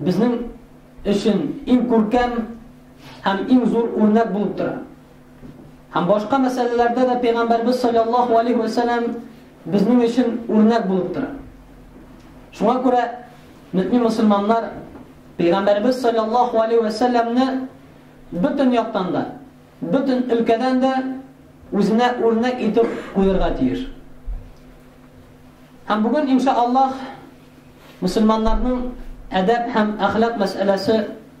Безнең өчен иң күркәм һәм иң зур үрнәк булып тора. Һәм башка мәсьәләләрдә дә пәйгамбәрбез саллаллаһу алейһи ва сәлләм безнең өчен үрнәк булып тора. Шуңа күрә мөтни мусламаннар пәйгамбәрбез саллаллаһу алейһи ва сәлләмне бөтен яктан да, бөтен өлкәдән дә үзенә үрнәк итеп куйырга тиеш. Һәм бүген иншаллаһ Мөселманнарның әдәп һәм әхлак мәсьәләсе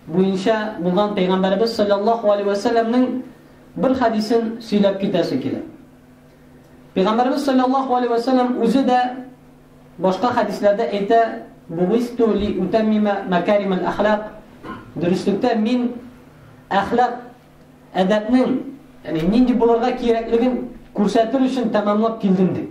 буенча булган Пәйгамбәребез саллаллаһу алейһи вә сәлләмнең бер хәдисен сөйләп китәсе килә. Пәйгамбәребез саллаллаһу алейһи ва саллям үзе дә башка хәдисләрдә әйтә: "Бугисту ли утаммима макарим аль-ахлак". Дөреслектә мин әхлак әдәпнең, ягъни нинди булырга кирәклеген күрсәтер өчен тәмамлап килдем дип.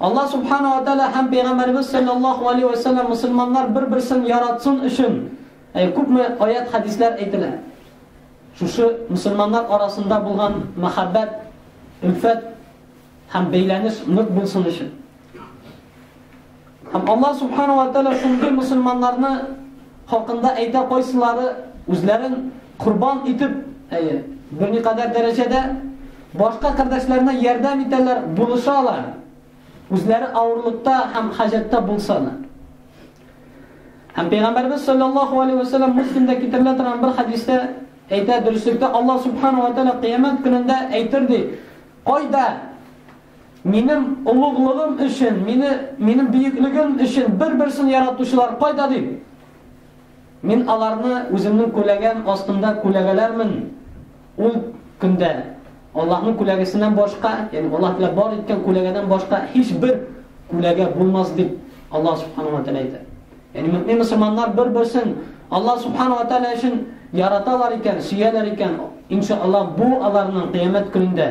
Аллаһ Субхана ва Тәгалә һәм Пәйгамбәребез саллаллаһу алейһи вә сәлләм мөселманнар бер-берсен яратсын өчен э, күпме аят-хәдисләр әйтелә. Шушы мөселманнар арасында булган мәхәббәт, өлфәт һәм бәйләнеш нык булсын өчен. Һәм Аллаһ Субхана уә Тәгалә шундый мөселманнарны хакында әйтә, кайсылары үзләрен корбан итеп, әйе, берникадәр дәрәҗәдә башка кардәшләренә ярдәм итәләр, булышалар, үзләре авырлыкта һәм хаҗәттә булса да. Һәм Пәйгамбәрбез саллаллаху алейхи ва саллям Муслимдә китерелә торган бер хәдистә әйтә, дөреслектә Аллаһ Субхана уә Тәгалә кыямәт көнендә әйтер ди, кайда Минем олуглыгым өчен, мине, минем бөеклегем өчен бер-берсен яратучылар кайда дип? Мин аларны үземнең күләгәм астында күләгәләрмен ул көндә. Аллаһның күләгәсеннән башка, ягъни Аллаһ Тәгалә бар иткән күләгәдән башка һичбер күләгә булмас дип Аллаһ Субхану ва Тәгалә әйтә. Ягъни мөмин мусламаннар бер-берсен Аллаһ Субхану ва Тәгалә өчен яраталар икән, сөяләр икән, иншаллаһ, бу аларның кыямәт көнендә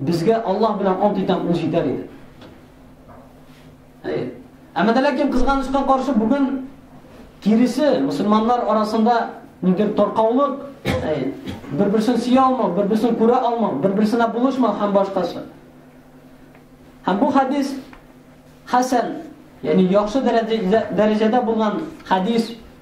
Безгә Аллаһ белән ант итәм, ул җитәр иде. Әйе. Әмма дә ләкин кызганычка каршы бүген киресе мусульманнар арасында ниндидер таркаулык, әйе, бер-берсен сөя алмау, бер-берсен күрә алмау, бер-берсенә булышмау һәм башкасы. Һәм бу хадис хәсән, ягъни яхшы дәрәҗәдә булган хадис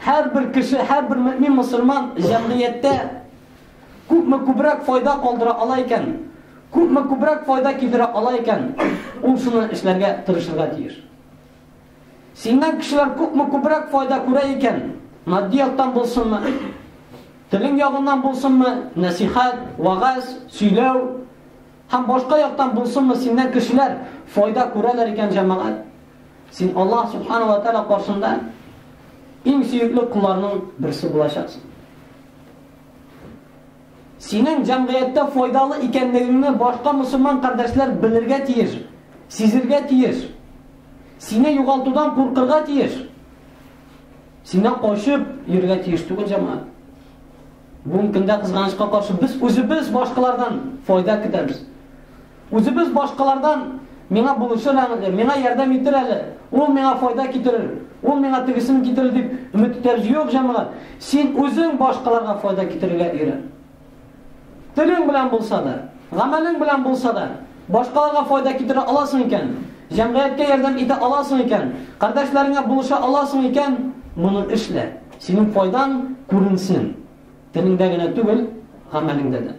Һәрбер кеше, һәрбер мөэмин мөселман җәмгыятьтә күпме күбрәк файда калдыра ала икән, күпме күбрәк файда китерә ала икән, ул шуны эшләргә тырышырга тиеш. Синнән кешеләр күпме күбрәк файда күрә икән, матди яктан булсынмы, телең ягыннан булсынмы, нәсихәт, вагаз, сөйләү һәм башка яктан булсынмы, синнән кешеләр файда күрәләр икән, җәмәгать, Син Аллаһ Субхана ва Тәала каршында иң сөекле кулларның берсе булачаксың. Синең җәмгыятьтә файдалы икәнлегеңне башка мусульман кардәшләр белергә тиеш, сизергә тиеш. Сине югалтудан куркырга тиеш. Синнән качып йөрергә тиеш түгел җәмгыять. Бүгенге көндә кызганычка каршы без үзебез башкалардан файда көтәбез. Үзебез башкалардан, Миңа булышыр әле, миңа ярдәм итер әле, ул миңа файда китерер, ул миңа тегесен китерер дип өмет итәбез. Юк, җәмәгать, син үзең башкаларга файда китерергә өйрән. Телең белән булса да, гамәлең белән булса да, башкаларга файда китерә аласың икән, җәмгыятькә ярдәм итә аласың икән, кардәшләреңә булыша аласың икән, моны эшлә. Синең файдаң күренсен. Телеңдә генә түгел, гамәлеңдә дә.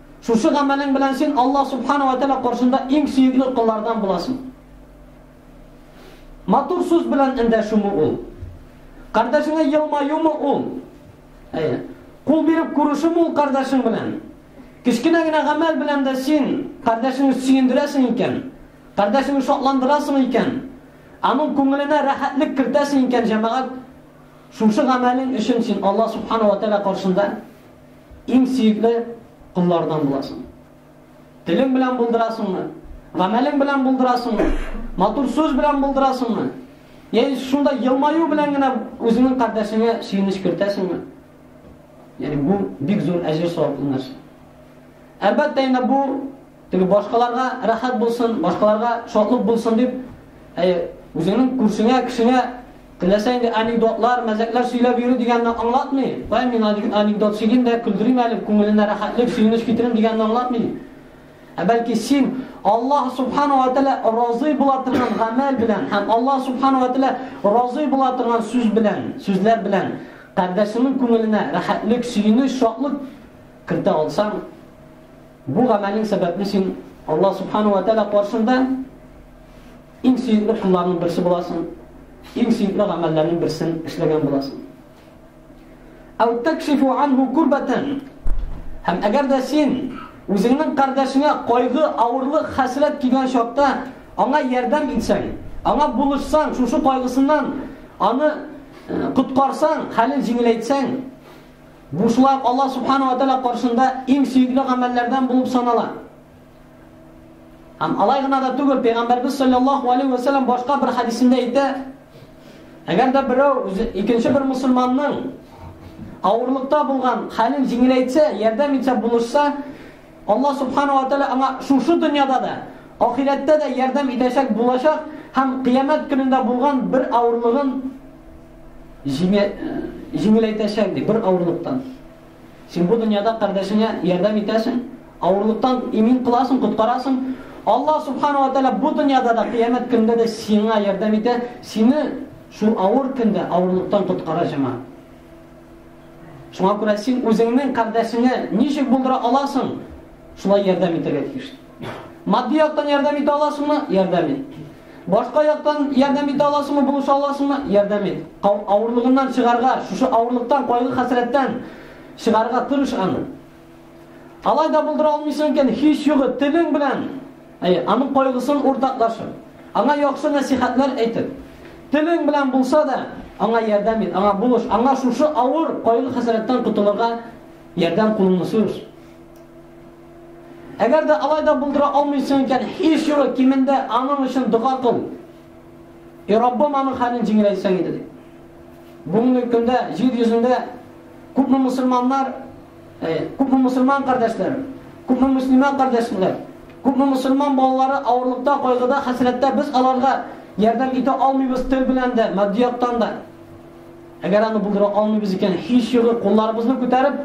Шушы гамәлең белән син Аллаһ Субхана вә Тәгалә каршында иң сөекле коллардан буласың. Матур сүз белән эндәшүме ул? Кардәшеңә елмаюмы ул? Әйе. Кул биреп күрешүме ул кардәшең белән? Кечкенә генә гамәл белән дә син кардәшеңне сөендерәсең икән, кардәшеңне шатландырасың икән, аның күңеленә рәхәтлек кертәсең икән, җәмәгать, шушы гамәлең өчен син Аллаһ Субхана вә Тәгалә каршында Иң сөекле коллардан буласың. Телең белән булдырасыңмы? Гамәлең белән булдырасыңмы? Матур сүз белән булдырасыңмы? Яни шунда елмаю белән генә үзеңнең кардәшеңә сөенеч кертәсеңме? Яни бу бик зур әҗер саваплы нәрсә. Әлбәттә инде бу Теге башкаларга рәхәт булсын, башкаларга шатлык булсын дип, әйе, үзеңнең күршеңә, кешеңә теләсә инде анекдотлар, мәзәкләр сөйләп йөрү дигәнне аңлатмый. Кая мин анекдот сөйлим дә, көлдерим әле, күңеленә рәхәтлек, сөенеч китерим дигәнне аңлатмый. Ә бәлки син Аллаһ субхана ва тәлә разый була торган гамәл белән һәм Аллаһ субхана ва тәлә разый була торган сүз белән, сүзләр белән кардәшеңнең күңеленә рәхәтлек, сөенеч, шатлык кертә алсаң, Бу гамәлең сәбәпле син Аллаһ Субхана ва Тәгалә каршында иң сөекле кулларның берсе буласың, иң сөекле гамәлләрнең берсен эшләгән буласың. Ау такшифу анху курбатан. Һәм әгәр дә син үзеңнең кардәшеңә кайгы, авырлык, хәсрәт килгән чакта аңа ярдәм итсәң, аңа булышсаң, шушы кайгысыннан аны коткарсаң, хәлен җиңеләйтсәң, Бушлар Аллаһ Субхана ва Тәгалә каршында иң сөекле гамәлләрдән булып санала. Һәм алай гына да түгел, Пәйгамбәрбез саллаллаһу алейһи ва сәлләм башка бер хәдисендә әйтә, әгәр дә берәү үзе икенче бер мусульманның авырлыкта булган хәлен җиңеләйтсә, ярдәм итсә, булышса, Алла Субхана ва Тәгалә аңа шушы дөньяда да, ахирәттә дә ярдәм итәчәк булачак һәм Кыямәт көнендә булган бер авырлыгын җиңеләйтәчәк, ди, бер авырлыктан. Син бу дөньяда кардәшеңә ярдәм итәсең, авырлыктан имин кыласың, коткарасың. Алла Субхана ва Тәгалә бу дөньяда да, Кыямәт көнендә дә сиңа ярдәм итә, сине шул авыр көндә авырлыктан коткара, җәмәгать. Шуңа күрә син үзеңнең кардәшеңә ничек булдыра аласың? Шулай ярдәм итәргә тиеш. Матди яктан ярдәм итә аласыңмы? Ярдәм ит. Башка яктан ярдәм итә аласыңмы, булыша аласыңмы? Ярдәм ит. Авырлыгыннан чыгарга, шушы авырлыктан, кайгы-хәсрәттән чыгарга тырыш аны. Алай да булдыра алмыйсың икән, һич югы телең белән, әй, аның кайгысын уртаклашып, аңа яхшы нәсихәтләр әйтеп, телең белән булса да, аңа ярдәм ит, аңа булыш, аңа шушы авыр кайгы-хәсрәттән котылырга ярдәм кулыңны сузыш. Әгәр дә алай да булдыра алмыйсың икән, һич югы кимендә аның өчен дога кыл. И Раббым аның хәлен җиңеләйтсәң иде. Бүгенге көндә җир йөзендә күпме мусульманнар Күпме мусульман кардәшләрем, күпме муслимә кардәшләр, күпме мусульман балалары авырлыкта, кайгыда, хәсрәттә без аларга ярдәм итә алмыйбыз тел белән дә, матди яктан да. Әгәр аны булдыра алмыйбыз икән, һич югы кулларыбызны күтәреп,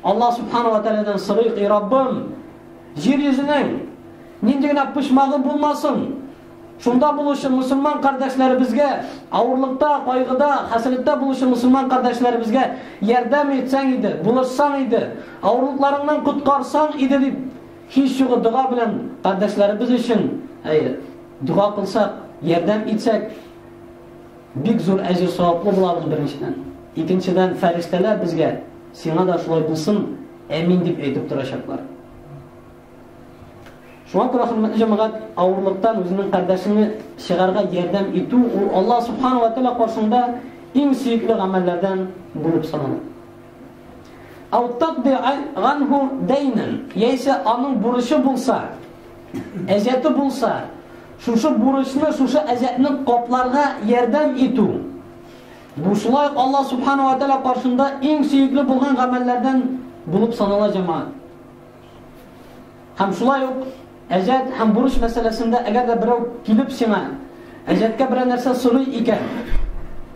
Аллаһ субхана ва тәгаләдән сорыйк, "И Раббым, җир йөзенең нинди генә почмагы булмасын, Шунда булучы мөселман кардәшләребезгә, авырлыкта, кайгыда, хәсрәттә булучы мөселман кардәшләребезгә ярдәм итсәң иде, булышсаң иде, авырлыкларыңнан коткарсаң иде дип, һич югы дога белән кардәшләребез өчен әйе, дога кылсак, ярдәм итсәк, бик зур әҗер саваплы булабыз беренчедән. Икенчедән, фәрештәләр безгә сиңа да шулай булсын, әмин дип әйтеп торачаклар. Шуңа күрә хөрмәтле җәмәгать, авырлыктан үзенең кардәшеңне чыгарга ярдәм итү ул Аллаһ субхана ва тәала каршында иң сөекле гамәлләрдән булып санала. Ау тадди ганху дәйнен, яисә аның бурычы булса, әҗәте булса, шушы бурычны, шушы әҗәтне капларга ярдәм итү. Бу шулай Аллаһ субхана ва тәала каршында иң сөекле булган гамәлләрдән булып санала җәмәгать. Һәм шулай ук әҗәт һәм бурыч мәсьәләсендә әгәр дә берәү килеп сиңа әҗәткә берәр нәрсә сорый икән,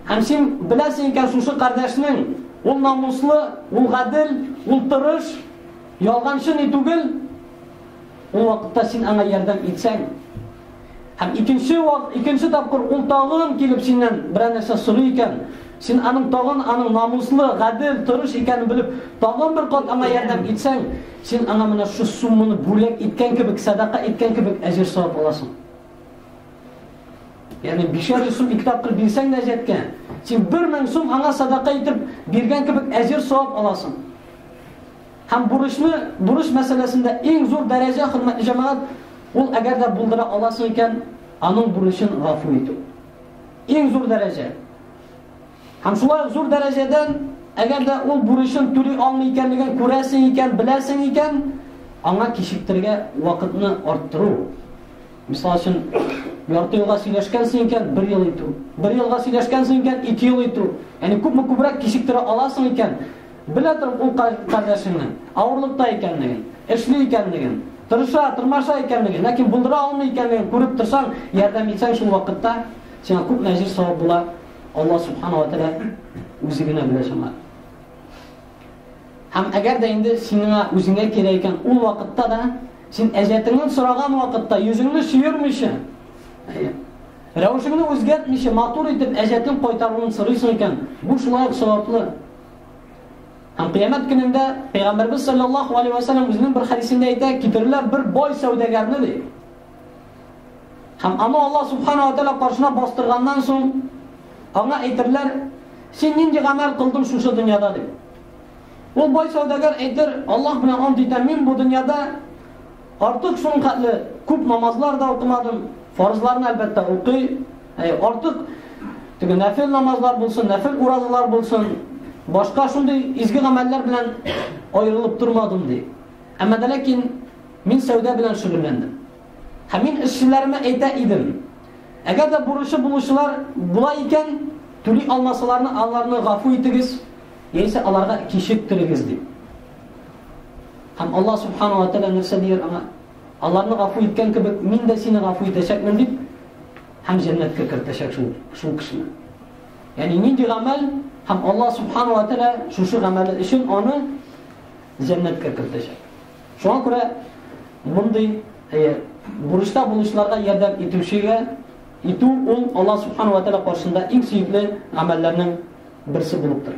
һәм син беләсең икән шушы кардәшнең ул намуслы, ул гадел, ул тырыш, ялганчы ни түгел, ул вакытта син аңа ярдәм итсәң, Һәм икенче вак, икенче тапкыр ул тагын килеп синнән берәр нәрсә сорый икән, син аның тагын аның намуслы, гадел, тырыш икәнен белеп, тагын бер кат аңа ярдәм итсәң, син аңа менә шу сумманы бүләк иткән кебек, садака иткән кебек әҗер савап аласың. Ягъни бишәр йөз сум ике тапкыр бирсәң дә җәткә, син бер мең сум аңа садака итеп биргән кебек әҗер савап аласың. Һәм бурычны, бурыч мәсьәләсендә иң зур дәрәҗә, хөрмәтле җәмәгать, ул әгәр дә булдыра аласың икән, аның бурычын гафу итү. Иң зур дәрәҗә. Һәм шулай зур дәрәҗәдән, әгәр дә ул бурычын түли алмый икәнлеген күрәсең икән, беләсең икән, аңа кичектергә вакытны арттыру. Мисал өчен, ярты елга сөйләшкәнсең икән, бер ел итү. Бер елга сөйләшкәнсең икән, ике ел итү. Яни күпме күбрәк кичектерә аласың икән, Белә торып ул кардәшеңнең авырлыкта икәнлеген, эшли икәнлеген, тырыша, тырмаша икәнлеген, ләкин булдыра алмый икәнлеген күреп торсаң, ярдәм итсәң шул вакытта сиңа күп мәҗир савап була. Алла субхана ва тәлә үзе генә белә шуңа. Һәм әгәр дә инде сиңа үзеңә кирәк икән, ул вакытта да син әҗәтеңнән сораган вакытта йөзеңне сөермичә, рәвешеңне үзгәртмичә матур итеп әҗәтең кайтаруын сорыйсың икән, бу шулай ук саваплы. Һәм кыямәт көнендә Пәйгамбәрбез саллаллаху алейхи ва саллям үзенең бер хәдисендә әйтә, китерерләр бер бай сәүдәгәрне ди. Һәм аны Алла субхана ва тәала каршына бастырганнан соң, аңа әйтерләр, син нинди гамәл кылдың шушы дөньяда ди. Ул бай сәүдәгәр әйтер, Аллаһ белән ант итәм, мин бу дөньяда Артык шуның хәтле күп намазлар да укымадым. Фарызларны әлбәттә укый. Ә артык теге нәфил намазлар булсын, нәфил уразалар булсын, башка шундый изге гамәлләр белән аерылып тормадым ди. Әмма дә ләкин мин сәүдә белән шөгыльләндем. Һәм мин эшчеләремә әйтә идем. Әгәр дә бурычы булучылар була икән, түли алмасаларны аларны гафу итегез, яисә аларга кичектерегез дип. Һәм Аллаһ Субхану ва Тәгалә нәрсә дияр аңа? Аларны гафу иткән кебек, мин дә сине гафу итәчәкмен дип, һәм җәннәткә кертәчәк шул, шул кешене. Ягъни нинди гамәл һәм Аллаһ Субхану ва Тәгалә шушы гамәле өчен аны җәннәткә кертәчәк. Шуңа күрә мондый э, бурычта булучыларга ярдәм итүчегә итү ул Аллаһ Субхану ва Тәгалә каршында иң сөекле гамәлләрнең берсе булып тора.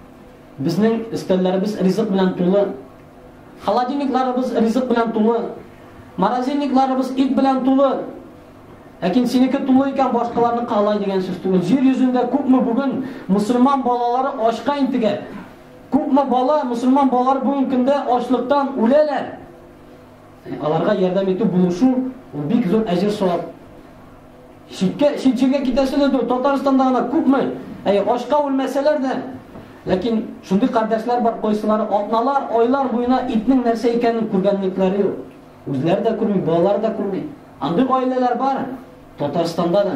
Безнең өстәлләребез ризык белән тулы. Холодильникларыбыз ризык белән тулы. Морозильникларыбыз ит белән тулы. Ләкин синеке тулы икән башкаларны калай дигән сүз түгел. Җир йөзендә күпме бүген мусульман балалары ачка интегә. Күпме бала мусульман балалары бүген көндә ачлыктан үләләр. Аларга ярдәм итү булышу, ул бик зур әҗер-савап. Читкә, чит җиргә китәсе дә түгел, Татарстанда гына күпме, әй, ачка үлмәсәләр дә, ләкин шундый кардәшләр бар, кайсылары атналар, айлар буена итнең нәрсә икәнен күргәнлекләре юк. Үзләре дә күрми, балалары да күрми. Андый гаиләләр бар Татарстанда да.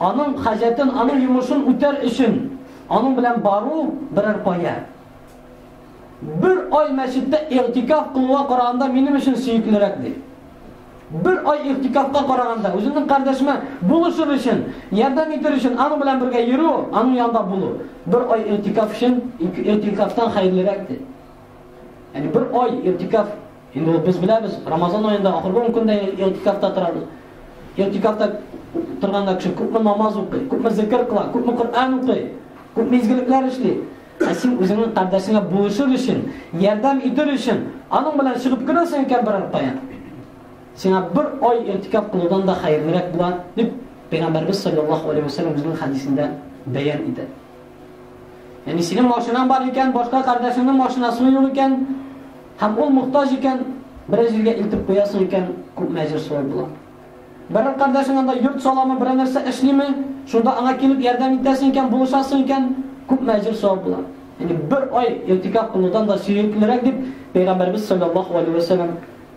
Аның хаҗәтен, аның йомышын үтәр өчен аның белән бару берәр кая. Бер ай мәчеттә игътикаф кылуга караганда минем өчен сөеклерәк ди. Бер ай игътикафка караганда үземнең кардәшемә булышыр өчен, ярдәм итер өчен аның белән бергә йөрү, аның янында булу. Бер ай игътикаф өчен игътикафтан хәерлерәк ди. Яни бер ай иртикаф, инде ул без беләбез, Рамазан аенда ахыргы 10 көндә иртикафта торабыз. Иртикафта торганда кеше күпме намаз укый, күпме зикр кыла, күпме Коръән укый, күпме изгелекләр эшли. Ә син үзеңнең кардәшеңә булышыр өчен, ярдәм итер өчен, аның белән чыгып керәсең икән бер аркая. Сиңа бер ай иртикаф кылудан да хәерлерәк була, дип Пәйгамбәрбез саллаллаһу алейһи ва саллям үзенең хәдисендә бәян итә. Яни синең машинаң бар икән, башка кардәшеңнең машинасы юк икән, һәм ул мохтаҗ икән, бер җиргә илтеп куясың икән, күп мәҗер шулай була. Бер кардәшең анда йорт саламы, бер нәрсә эшлиме, шунда аңа килеп ярдәм итәсең икән, булышасың икән, күп мәҗер шулай була. Яни бер ай иртикаф кылудан да сөеклерәк дип Пәйгамбәрбез саллаллаһу алейһи ва саллям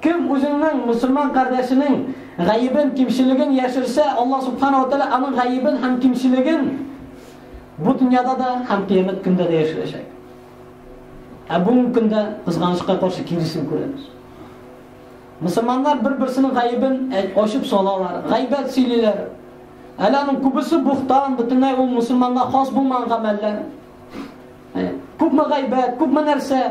Кем үзенең мөселман кардәшенең гаебен, кимчелеген яшерсә, Аллаһ Субхана ва Тәгалә аның гаебен һәм кимчелеген бу дөньяда да һәм кыямәт көндә дә яшерәчәк. Ә бүгенге көндә кызганычка каршы киресен күрәбез. Мусламаннар бер-берсенең гаебен ачып салалар, гайбәт сөйлиләр. Әле аның күбесе бухтан, бөтенләй ул мусламанга хас булмаган гамәлләр. Күпме гайбәт, күпме нәрсә.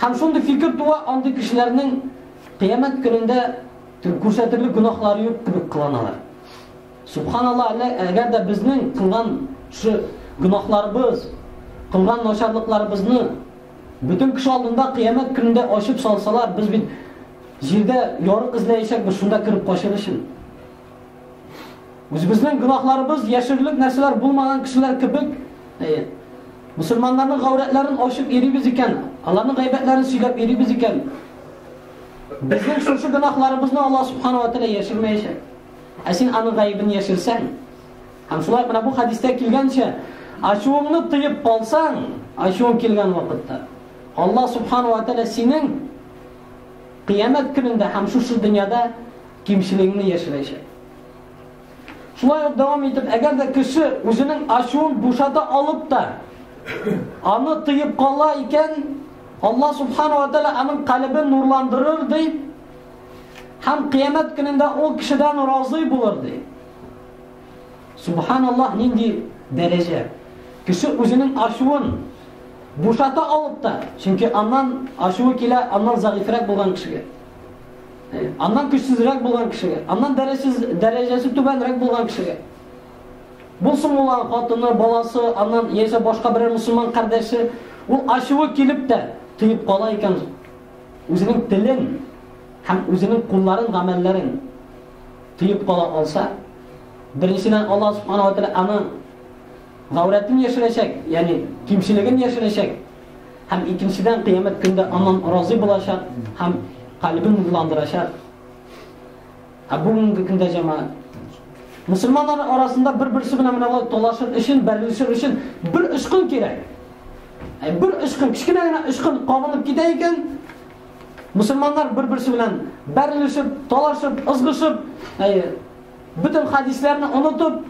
Һәм шундый фикер туа, андый кешеләрнең Кыямәт көнендә күрсәтерлек гөнаһлары юк кебек кыланалар. Субханалла, әгәр дә безнең кылган шу гөнаһларыбыз, кылган начарлыкларыбызны бөтен кеше алдында Кыямәт көнендә ачып салсалар, без бит җирдә ярык эзләячәкбез, шунда кереп качыр өчен. Үзебезнең гөнаһларыбыз яшерерлек нәрсәләр булмаган кешеләр кебек, әйе. Мусульманнарның гаурәтләрен ачып йөрибез икән, аларның гайбәтләрен сөйләп йөрибез икән, безнең шушы гөнаһларыбызны Аллаһ субханала тәгалә яшермәячәк. Ә син аның гаебен яшерсәң, һәм шулай менә бу хадистә килгәнчә, ачуыңны тыеп калсаң, ачуың килгән вакытта, Аллаһ субханала тәгалә синең Кыямәт көнендә һәм шушы дөньяда кимчелегеңне яшерәчәк. Шулай ук дәвам итеп, әгәр дә кеше үзенең ачуын бушата алып та, аны тыеп кала икән, Алла субхану ва тәала аның калебен нурландырыр ди, һәм кыямәт көнендә ул кешедән разый булыр ди. Субханаллаһ, нинди дәрәҗә! Кеше үзенең ачуын бушата алып та, чөнки аннан ачуы килә, аннан загыйфрәк булган кешегә. Аннан көчсезрәк булган кешегә, аннан дәрәҗәсез дәрәҗәсе түбәнрәк булган кешегә. Булсын ул хатыны, баласы, аннан яисә башка берәр мусульман кардәше, ул ачуы килеп тә тыеп кала икән үзенең телен һәм үзенең кулларын, гамәлләрен тыеп кала алса, беренчедән Аллаһ Субханаһу ва Тәгалә аның гаурәтен яшерәчәк, ягъни кимчелеген яшерәчәк. Һәм икенчедән кыямәт көндә аннан разый булачак һәм калбын нурландырачак. Ә бүгенге көндә җәмәгать Мусульманнар арасында бер-берсе белән менә алай талашыр өчен, бәрелешер өчен бер очкын кирәк. Ә бер очкын, кечкенә генә очкын кабынып китә икән, Мөселманнар бер-берсе белән бәрелешеп, талашып, ызгышып, әйе, бөтен хадисләрне онытып,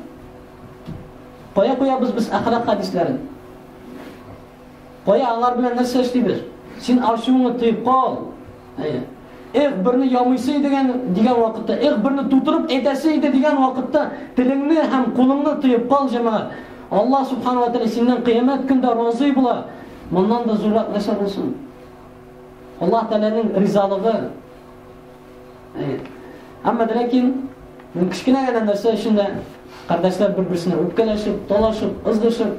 кая куябыз без әхлак хадисләрен? Кая алар белән нәрсә эшлибез? Син ачуыңны тыеп кал. Әйе. Эх, берне ямыйсы дигән дигән вакытта, эх, берне тутырып әйтәсе иде дигән вакытта телеңне һәм кулыңны тыеп кал, җәмәгать. Алла субхану ва тааля синнән кыямәт көндә разый була. Моннан да зуррак нәрсә булсын? Аллаһ Тәгаләнең ризалыгы. Әмма ләкин бу кечкенә генә нәрсә өчен дә кардәшләр бер-берсенә үпкәләшеп, талашып, ызгышып,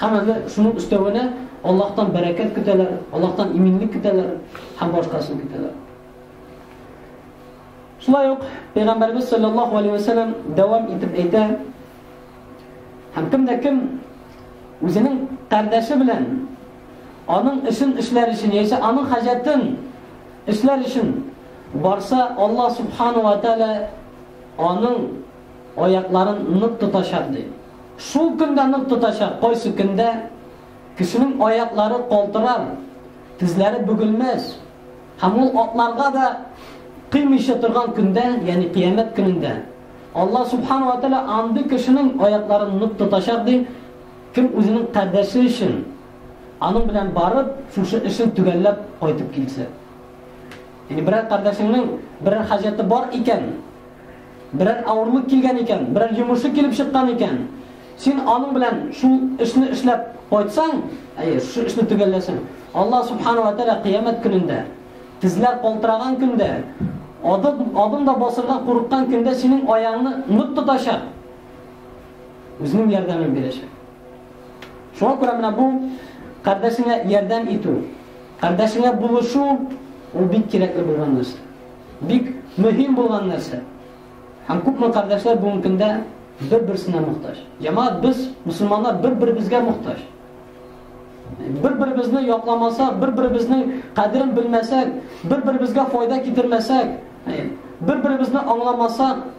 һәм әле шуның өстәвенә Аллаһтан бәрәкәт көтәләр, Аллаһтан иминлек көтәләр һәм башкасын көтәләр. Шулай ук Пәйгамбәрбез саллаллаһу алейһи ва саллям дәвам итеп әйтә, һәм кем дә кем үзенең кардәше белән Аның эшен эшләр өчен яисә аның хаҗәтен эшләр өчен барса, Аллаһ Субхана ва Тәгалә аның аякларын нык тотачак, ди. Шул көндә нык тотачак, кайсы көндә кешенең аяклары калтырар, тезләре бөгелмәс һәм ул атларга да кыймыйча торган көндә, ягъни кыямәт көнендә Аллаһ Субхана ва Тәгалә андый кешенең аякларын нык тотачак, ди. Кем үзенең кардәше өчен аның белән барып, шушы эшен төгәлләп кайтып килсә. Яни берәр кардәшеңнең берәр хаҗәте бар икән, берәр авырлык килгән икән, берәр йомышы килеп чыккан икән, син аның белән шул эшне эшләп кайтсаң, әйе, шушы эшне төгәлләсәң, Аллаһ субхана ва тәгалә кыямәт көнендә, тезләр калтыраган көндә, адым, адым да басырга курыккан көндә синең аяңны нык тотачак. Үзенең ярдәмен бирәчәк. Шуңа күрә менә бу кардәшеңә ярдәм итү, кардәшеңә булышу ул бик кирәкле булган нәрсә. Бик мөһим булган нәрсә. Һәм күпме кардәшләр бүгенге көндә бер-берсенә мохтаҗ. Ямаат без мусламаннар бер-беребезгә мохтаҗ. Бер-беребезне якламасак, бер-беребезнең кадерен белмәсәк, бер-беребезгә файда китермәсәк, бер-беребезне аңламасак,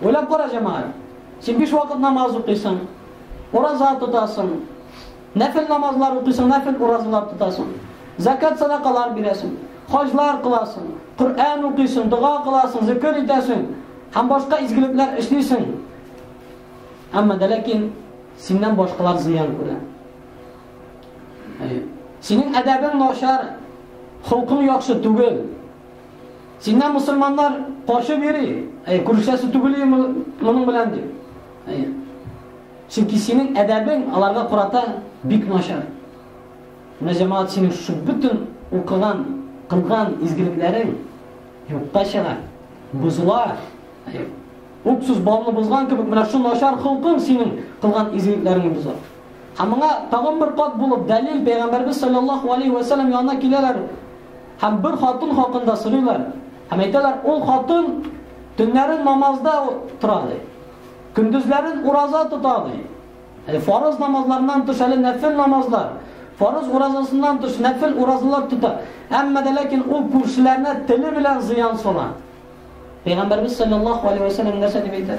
Уйлап кара, җәмәгать. Син биш вакыт намаз укыйсың, ураза тотасың, нәфил намазлар укыйсың, нәфил уразалар тотасың, закат садакалар бирәсең, хаҗлар кыласың, Коръән укыйсың, дога кыласың, зикр итәсең һәм башка изгелекләр эшлисең. Әмма дә ләкин синнән башкалар зыян күрә. Синең әдәбең начар, холкың яхшы түгел. Синнән мосылманнар качып йөри, әй, күрешәсе түгел ием моның белән дип. Әй. Чөнки синең әдәбең аларга карата бик начар. Менә җәмәгать синең шушы бөтен укыган, кылган изгелекләрең юкка чыга, бозыла. Әй. Уксыз балны бозган кебек менә шу начар холкың синең кылган изгелекләреңне боза. Һәм моңа тагын бер кат булып дәлил Пәйгамбәрбез саллаллаһу алейхи ва саллям янына киләләр. Һәм бер хатын хакында сорыйлар һәм әйтәләр, ул хатын төннәрен намазда тора ди. Көндезләрен ураза тота ди. Әле фарыз намазларыннан тыш әле нәфил намазлар, фарыз уразасыннан тыш нәфил уразалар тота. Әмма дә ләкин ул күршеләренә теле белән зыян сала. Пәйгамбәрбез саллаллаһу алейһи ва саллям нәрсә дип әйтә?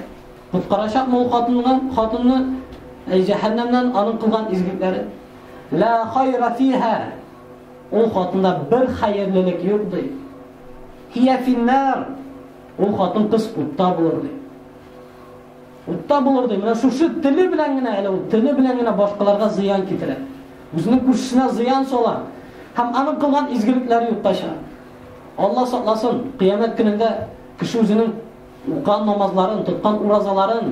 Коткарачак мул хатынны, хатынны әй җәһәннәмнән аның кылган изгекләре. Ла хайра фиһа Ул хатында бер хәерлелек юк, ди. Һия финнар! Ул хатын-кыз утта булыр, ди. Утта булыр, ди. Менә шушы теле белән генә, әле ул теле белән генә башкаларга зыян китерә. Үзенең күршесенә зыян сала. Һәм аның кылган изгелекләре юкка чыга. Алла сакласын, кыямәт көнендә кеше үзенең укыган намазларын, тоткан уразаларын,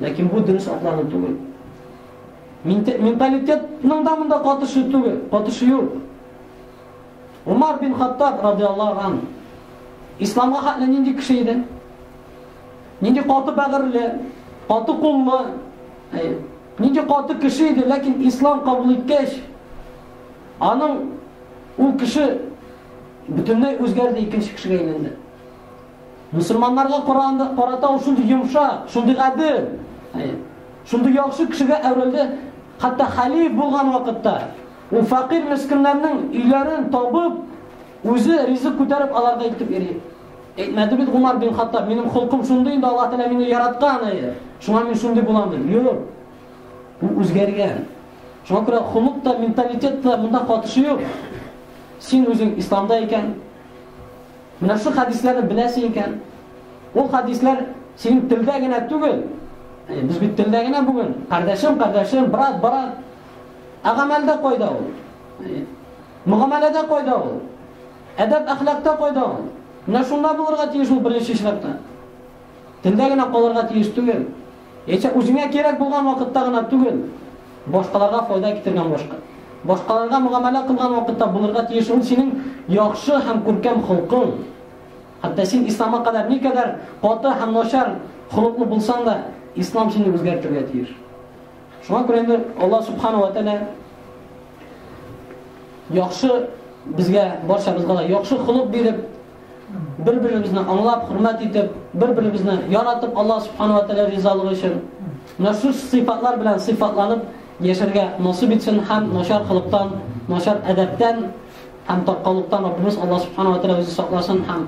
Ләкин бу дөрес атлану түгел. Менталитетның да монда катышы түгел, катышы юк. Умар бин Хаттаб радиаллаху ан исламга хәтле нинди кеше иде? Нинди каты бәгырьле, каты куллы, нинди каты кеше иде, ләкин ислам кабул иткәч, аның ул кеше бөтенләй үзгәрде, икенче кешегә әйләнде. Мөселманнарга караганда карата ул шундый йомшак, шундый гадел, шундый яхшы кешегә әверелде, хәтта хәлиф булган вакытта ул факир мескеннәрнең өйләрен табып, үзе ризык күтәреп аларга илтеп йөри. Әйтмәде бит Умар бин Хаттаб, минем холкым шундый инде, Аллаһ Тәгалә мине яраткан, әйе. Шуңа мин шундый булам дип. Юк. Ул үзгәргән. Шуңа күрә холык та, менталитет та монда катышы юк. Син үзең исламда икән, Менә шул хәдисләрне беләсең икән, ул хәдисләр синең телдә генә түгел. Э, без бит телдә генә бүген. Кардәшем, кардәшем, брат, брат. Ә гамәлдә кайда ул? Э, мөгамәләдә кайда ул? Әдәп әхлакта кайда ул? Менә шунда булырга тиеш ул беренче чиратта. Телдә генә калырга тиеш түгел. Яисә үзеңә кирәк булган вакытта гына түгел, башкаларга файда китергән башка, башкаларга мөгамәлә кылган вакытта булырга тиеш ул синең яхшы һәм күркәм холкың. Хәтта син исламга кадәр никадәр каты һәм начар холыклы булсаң да, ислам сине үзгәртергә тиеш. Шуңа күрә инде Аллаһ субхана ва тәгалә яхшы безгә барчабызга да яхшы холык биреп, Бер-беребезне аңлап, хөрмәт итеп, бер-беребезне яратып, Алла Субхану ва Тәгалә ризалыгы өчен менә шул сыйфатлар белән сыйфатланып яшәргә насыйп итсен һәм начар хылыктан, начар әдәптән һәм таркаулыктан Раббыбыз Алла Субхану ва Тәгалә үзе сакласын һәм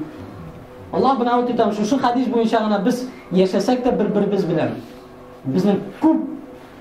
Алла белән үтә торган шушы хадис буенча гына без яшәсәк тә бер-беребез белән. Безнең күп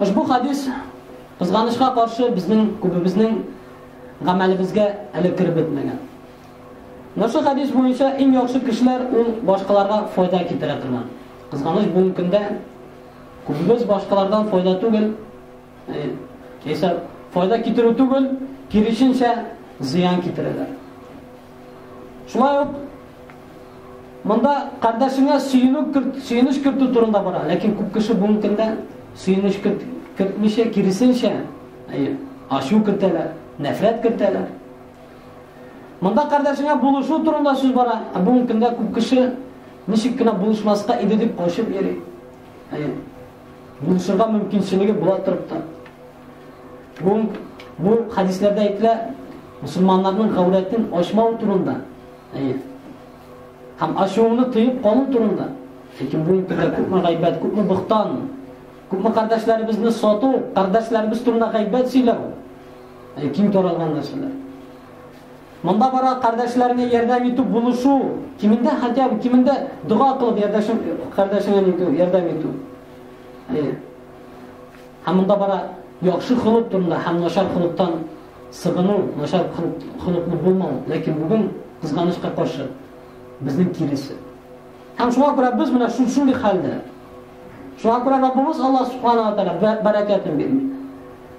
Ошбу хәдис, кызганычка каршы, безнең күбебезнең гамәлебезгә әле кереп бетмәгән. Мошы хәдис буенча иң яхшы кешеләр ул башкаларга файда китерә торган. Кызганыч бүгенге көндә күбебез башкалардан файда түгел, яисә э, файда китерү түгел, киресенчә зыян китерәләр. Шулай ук Монда кардәшеңә сөенү керт, сөенеч кертү турында бара, ләкин күп кеше бүгенге көндә сөенеч керт, кертмичә, киресенчә, ачу кертәләр, нәфрәт кертәләр. Монда кардәшеңә булышу турында сүз бара, ә бүгенге көндә күп кеше ничек кенә булышмаска иде дип качып йөри. Булышырга мөмкинчелеге була торып та. Бу бу хадисләрдә әйтелә, мусулманнарның гаурәтен ачмау турында. Әйе. Һәм ачуыңны тыеп калу турында. Ләкин бу инде күпме гайбәт, күпме бохтан, күпме кардәшләребезне сату, кардәшләребез турында гайбәт сөйләү. Әй, киң таралган нәрсәләр. Монда бара кардәшләргә ярдәм итү, булышу, кимендә хәтта кимендә дога кылып ярдәшем кардәшеңә итү, ярдәм итү. Әй. Һәм монда бара яхшы хылык турында һәм начар хылыктан Сагыну, начар холыклы булмау, ләкин бүген, кызганычка каршы, безнең киресе. Һәм шуңа күрә без менә шундый хәлдә. Шуңа күрә Раббыбыз Аллаһ субхана ва тәгалә бәрәкәтен бирми.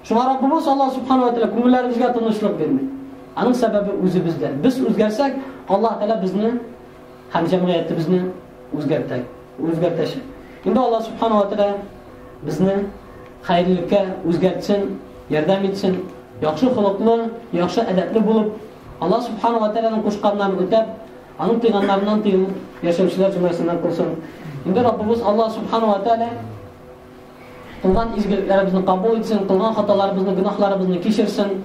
Шуңа Раббыбыз Аллаһ субхана ва тәгалә күңелләребезгә тынычлык бирми. Аның сәбәбе үзебездә. Без үзгәрсәк, Аллаһ тәгалә безне һәм җәмгыятебезне үзгәртә. Үзгәртәчәк. Инде Аллаһ субханаһу ва тааля безне хәерлелеккә үзгәртсен, ярдәм итсен, яхшы холыклы, яхшы әдәпле булып, Аллаһ субханаһу ва тааляның кушканнарын үтәп, аның тыйганнарыннан тыелып яшәүчеләр җөмләсеннән кылсын. Инде Раббыбыз Аллаһ субханаһу ва тааля кылган изгелекләребезне кабул итсен, кылган хаталарыбызны, гөнаһларыбызны кичерсен.